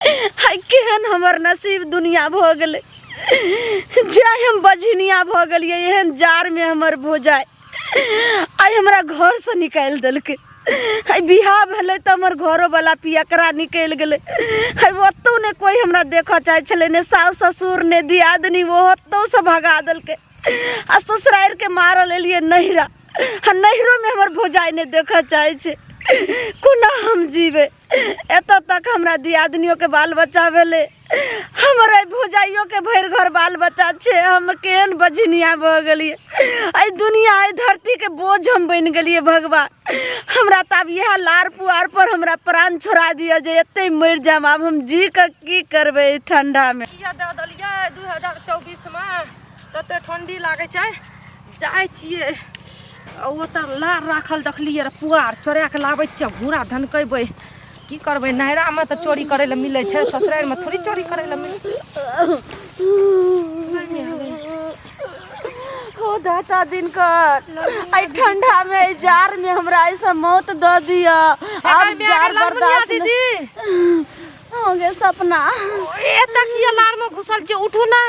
हाय केहन हमर नसीब दुनिया भऽ गेलै जाय हम बझनिया भऽ गेलियै एहन जाड़मे हमर भोजाय आइ हमरा घरसँ निकालि देलकै आइ बियाह भेलै तऽ हमर घरोवला पियकरा निकलि गेलै आइ ओतहु ने कोइ हमरा देखऽ चाहै छलै ने साउस ससुर ने दियादनी ओ ओतहुसँ भगा देलकै आ ससुरारिके मारल एलियै नैहरा आ नैहरोमे हमर भोजाय नहि देखऽ चाहै छै कोना हम जीबै एतऽ तक हमरा दियादनियों के बाल बच्चा भेलै हमर एहि भौजाइयो के भरि घर बाल बच्चा छै हम केहन बझनिया भऽ गेलियै एहि दुनिया एहि धरती के बोझ हम बनि गेलियै भगवान हमरा तऽ आब इएह लार पुआर पर हमरा प्राण छोड़ा दिअ जे एते मरि जायब आब हम जी कऽ की करबै एहि ठंडा मे किया दऽ देलियै दू हजार चौबीसमे तते ठंडी लागै छै जाइ छियै आ ओतऽ लार राखल देखलियै रऽ पुआर चोरा कऽ लाबै छियै घूरा धनकेबै की करबै नैहरामे तऽ चोरी करै लए मिलै छै ससुरारिमे थोड़ी चोरी करै लए मिलै हो दाता दिनकर आई ठंडा में आई जार में हमरा ऐसा मौत द दिया अब जार बर्दाश्त नहीं- दीदी हो गए सपना एतक की अलार में घुसल छी उठू ना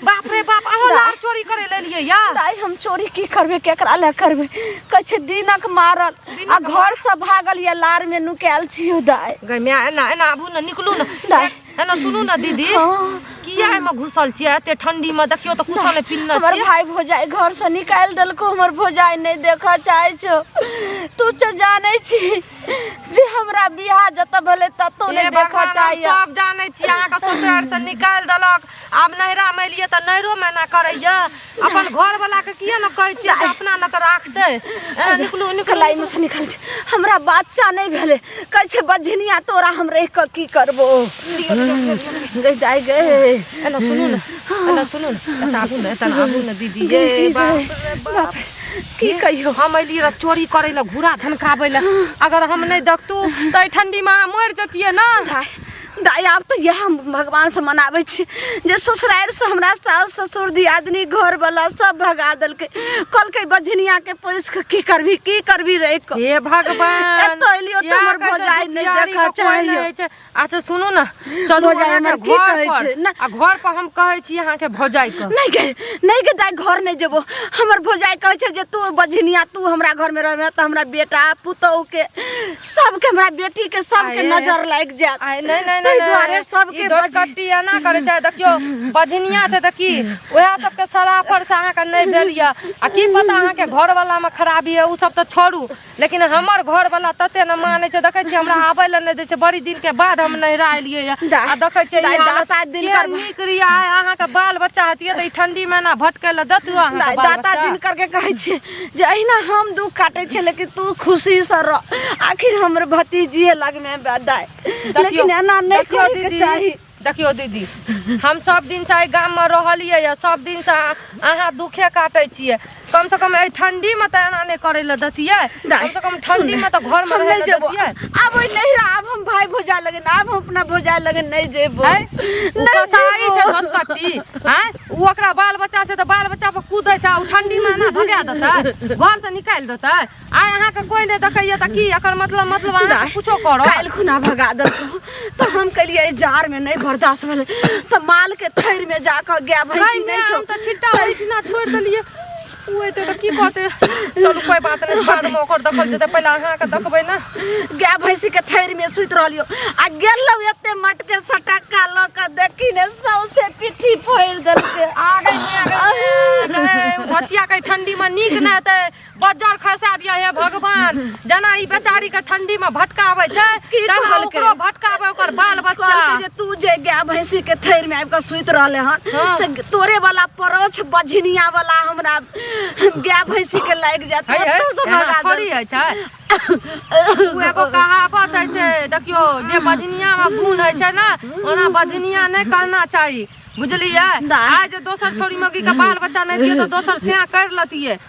बाप रे बाप अहो लार चोरी करे ले लिए या दाई हम चोरी की करबे केकरा ले करबे कछे दिनक मारल आ घर से भागल ये लार में नुकायल छी दाई गई मैं एना एना आबू ना निकलू ना दाई। एना सुनू ना दीदी हाँ। किया एमे घुसल छियै एते ठंडी में देखियो तो कुछो ने पिन्ना हमर छियै भाई भौजाई घर से निकाल देलको हमर भौजाई नहीं देखा चाहे छो तू तो जाने छी जे हमरा बियाह जतऽ भेलै ततौ हे नहि देखऽ भगवान हम चाहैया सब जानै छी अहाँके ससुरार से निकालि देलक आब नैहरा मे एलियै तऽ नैहरो मे एना करैया अपन घर वाला के किया ने कहै छियै जे अपना लग राखतै ए, निकलू निकलू कलाई में से निकल छै हमरा बच्चा नहीं भेले कह छै बजनिया तोरा हम रह के की करबो गई जाय गए एना सुनू ने एना सुनू ने एतऽ आबू ने एतऽ आबू ने दीदी ये बाप रे बाप की कहियो हम अइली रह चोरी करे ला घूरा धनकाबे ला अगर हम नहीं देखतू तो एहि ठंडी में अहाँ मर जतिए ना दाय दाय आब तऽ इएह हम भगवान से मनाबै छी जे ससुरारि से हमरा सास ससुर दियादनी घर वाला सब भगा देलकै कहलकै बझनिया के पोस के की करबी की करबी रहि कऽ हे भगवान एतऽ एलियो तऽ यहाँ हमर के जे भौजाइ नहि दुखियारी देखऽ के कोई चाहैयो। नहीं छै। अच्छा सुनू ने चलू भौजाई अहाँके हमर की घर कहै पर छै? ना। आ घर पर हम कहै छी अहाँके भौजाई के नहीं के नहीं के दाई घर नहीं जेबो हमर भौजाई कहै छै जे तू बझनिया तू हमरा घर में रहबे त हमरा बेटा पुतोह के सबके हमरा बेटी के सबके आये। नजर लाग जात आय नहीं नहीं ताहि नहीं दुआरे सबके ई बज- दोचकट्टी एना करे चाहे देखियो बजनिया छै त की ओहे सबके सराफर से अहाँके नहीं भेल यऽ आ की पता अहाँके घर वाला में खराबी है उ सब त छोड़ू लेकिन हमर घर वाला तते न माने छै देखे छी हमरा आबे ल नहीं दे छै बड़ी दिन के बाद हम नहरा एलिए या आ देखे छी दाई, दस सात दिन कर नीक रिया है अहाँ के बाल बच्चा हतिए त ई ठंडी में ना भटके ल दतु अहाँ के बाल दाता बच्चा दिन करके कहै छै जे अहिना हम दुख काटै छै लेकिन तू खुशी से रह आखिर हमर भतीजिए लगमे दाय देखियौ- लेकिन एना नहि देखियौ करैके दीदी, चाही देखियौ दीदी हम सब दिन से गाम में रहलिए या सब दिन से अहा दुखे काटे छिए कम से कम ए ठंडी में त एना नहीं करे ल दतिए कम से कम ठंडी में त घर में रहे जेबो अब ओइ नहीं रहा अब हम भाई भोजा लगे ना अब हम अपना भोजा लगे नहीं जेबो नहीं कसाई छ झटकटी हैं उ ओकरा बाल बच्चा से त बाल बच्चा पर कूदे छ उ ठंडी में ना भगा देता घर से निकाल देता आइ अहाँके कोई नहि देखैया तऽ की एकर मतलब मतलब अहाँ कुछो करो काल्हि खुना भगा देलको तऽ हम कहलियै जार में नहीं बर्दाश्त भेल तऽ माल के थैर में जाकर गाय भैंसी नहीं छौ तऽ छिट्टा ओहिठिना छोड़ देलियै ओए तऽ की कहते चलू कोई बात नहीं बाद में ओकर देखल जेतै पहिले अहाँके देखबै ने गाय भैंसी के थैर में सुति रहलियो आ गेलौ एते मट के सटक्का ल के देखी ने सौसे पिट्ठी फोड़ देलके आ गई आ गई धचिया के ठंडी में नीक ना हेतै बज्जर खसा दिया हे भगवान जना ई बेचारी के ठंडी में भटकावे छै की तना कहलकै? ओकरो भटकावे ओकर बाल बच्चा कहलकै जे तू जे गाय भैंसी के थैर में आबि कऽ सुति रहले हन हाँ। से तोरे वाला परोछ बझनिया वाला हमरा गाय भैंसी के लागि जात है है ओतौ से एना भगा थोड़ी देलकै। है छै उ एगो कहावत है छै देखियो जे बजनिया में गुण है छै ना ओना बजनिया नहीं कहना चाहिए बुझलियै दाय। आज दोसर छोरी मौगी के बाल बच्चा नहीं दिए तो दोसर सिया कर लतिए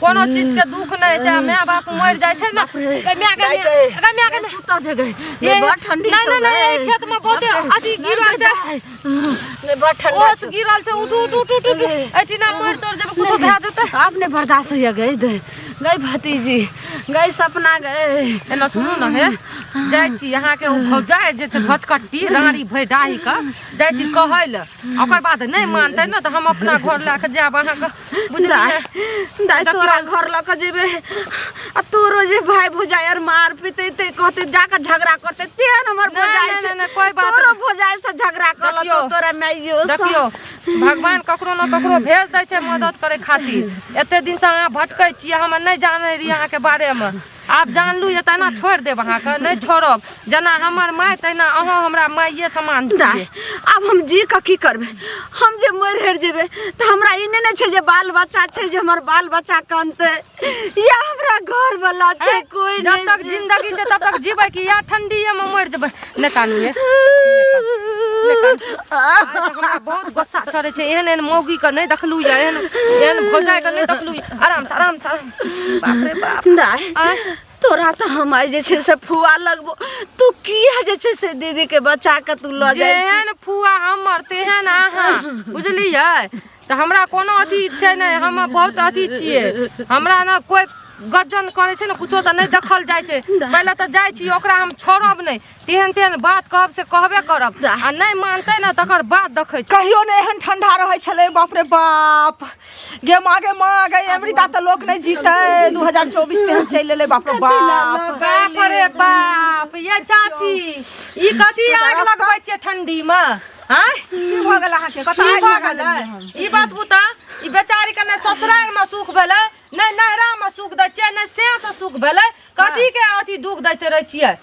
कोनो चीज के दुख नहीं है चाहे माय बाप मर जाए छै ना ए माय के अगर माय के सुता दे गई ये बड़ ठंडी नहीं नहीं नहीं खेत में बहुत अथी गिरल छै ने बड़ ठंडी ओस गिरल छै उठ उठ उठ उठ एटिना मर तोर जब कुछ भए जेतै आपने बर्दाश्त होइए गई दे गई भतीजी गई सपना गए एना सुनू ना हे जाइ छी अहाँ के भौजा जे छै भचकट्टी रानी भरि डाही के जाइ छी कहै लए ओकर बाद नहि मानतै ने तऽ हम अपना घर लए कऽ जायब अहाँके बुझलियै दाय तोरा घर लऽ कऽ जेबै आ तोरो जे भाय भौजाइ आर मार पीते ते कहते जाकर झगड़ा करते तेहन हमर ना, भौजाइ ना, छै ना, ना, कोई बात तोरो नहीं। भौजाइ से झगड़ा कर लतो देखियो, तोरा माइयो से देखियो भगवान ककरो ने ककरो भेज दै छै मदद करे खातिर एते दिन से अहाँ भटकै छियै हम नहि जानै रही अहाँके बारे मे आब जानलू जे तेना छोड़ि देब अहाँके नहि छोड़ब जेना हमर माय तहिना अहाँ हमरा माइये समान छियै आब हम जी कऽ की करबै हम जे मरि हरि जेबै तऽ हमरा ई नहि ने छै जे बाल बच्चा छै जे हमर बाल बच्चा कानतै या हमरा घर वाला छै कोई जब तक जिंदगी छै तब तक जीबै कि या ठंडीए में मरि जेबै नहि कानिए हमरा बहुत गुस्सा चढ़ै छै एहन एहन मौगी के नहि देखलू या एहन एहन भौजाइ के नहि देखलू आराम से आराम से आराम बाप रे बाप दाय आय तोरा तऽ हम आइ जे छै से फुआ लगबो तू किया जे छै से दीदी के बचा के तू लऽ जाइ छी जेहन फुआ हमर तेहन अहाँ बुझलियै तऽ हमरा कोनो अथी छै नहि हम बहुत अथी छियै हमरा ने कोइ गजन करै छै ने कुछो तऽ नहि देखल जाइ छै पहिले तऽ जाइ छी ओकरा हम छोड़ब नहि तेहन तेहन बात कहब से कहबे करब जा। आ नहि मानतै ने तकर बाद देखै छी कहियो ने एहन ठंडा रहै छलै बाप रे बाप गे माँ गे माँ गे अमृता तऽ लोक नहि जीतै 2024 तेहन चलि एलै बाप रे बाप बाप रे बाप ये चाची ई कथी आग लगबै छियै ठंडी मे आँय की भऽ गेल अहाँके की कतऽ भऽ गेलै ई बात बुता ई बेचारी के ने ससुराल में सुख भेलै ने नैहरा में सुख दै छियै ने से से सुख भेलै कथी के अथी दुख दैते रहै छियै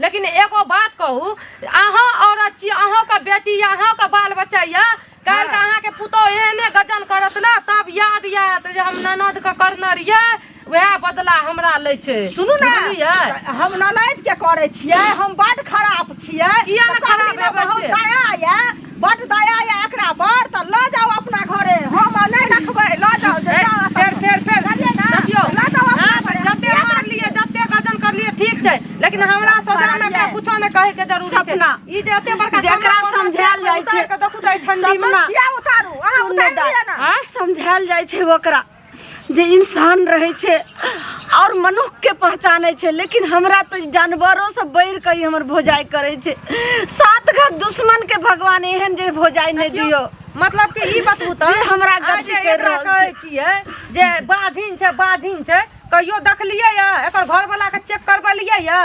लेकिन एगो बात कहू अहाँ औरत छी अहाँके बेटी यऽ अहाँके बाल बच्चा यऽ काल्हि के अहाँके पुतोह एहने गजन करत ने तब याद याद जे हम ननद के करने रहियै वएह बदला हमरा लै छै सुनू ने बुझलियै हम ननद के करे छियै हम बड खराब छियै किया ने तऽ खराब कखनी ने हेबै बहुत छियै? दया ये बड दया या एकरा पर त ल जाओ अपना घरे हम नै रखबै ल जाओ जे फेर फेर फेर देखियो ल जाओ अपना हाँ, घरे जते मार लिए जते गजन कर लिए ठीक छै लेकिन हमरा सजा में एकरा कुछो नै कहे के जरूरी छै सपना। ई जे एते बड़का जेकरा सपना बनल समझायल छै, जाइ छै। उतार के देखू जाइ ठंडी में सपना। किया उतारू अहाँ उतार दिअ ना हाँ? समझायल जाइ छै ओकरा जे इंसान रहै छै आओर मनुष्यके पहचानै छै लेकिन हमरा तऽ जानवरोसँ बढ़ि कऽ ई हमर भोजाइ करै छै सात घात दुश्मनके भगवान एहन जे भोजाइ नहि दियौ मतलब कि ई बतबू तऽ जे हमरा आइ गलती जे करि एकरा रहल कहै छै। छियै जे बाझिन छै बाझिन छै कहियो देखलियै यऽ एकर घरवला के चेक करबेलियै यऽ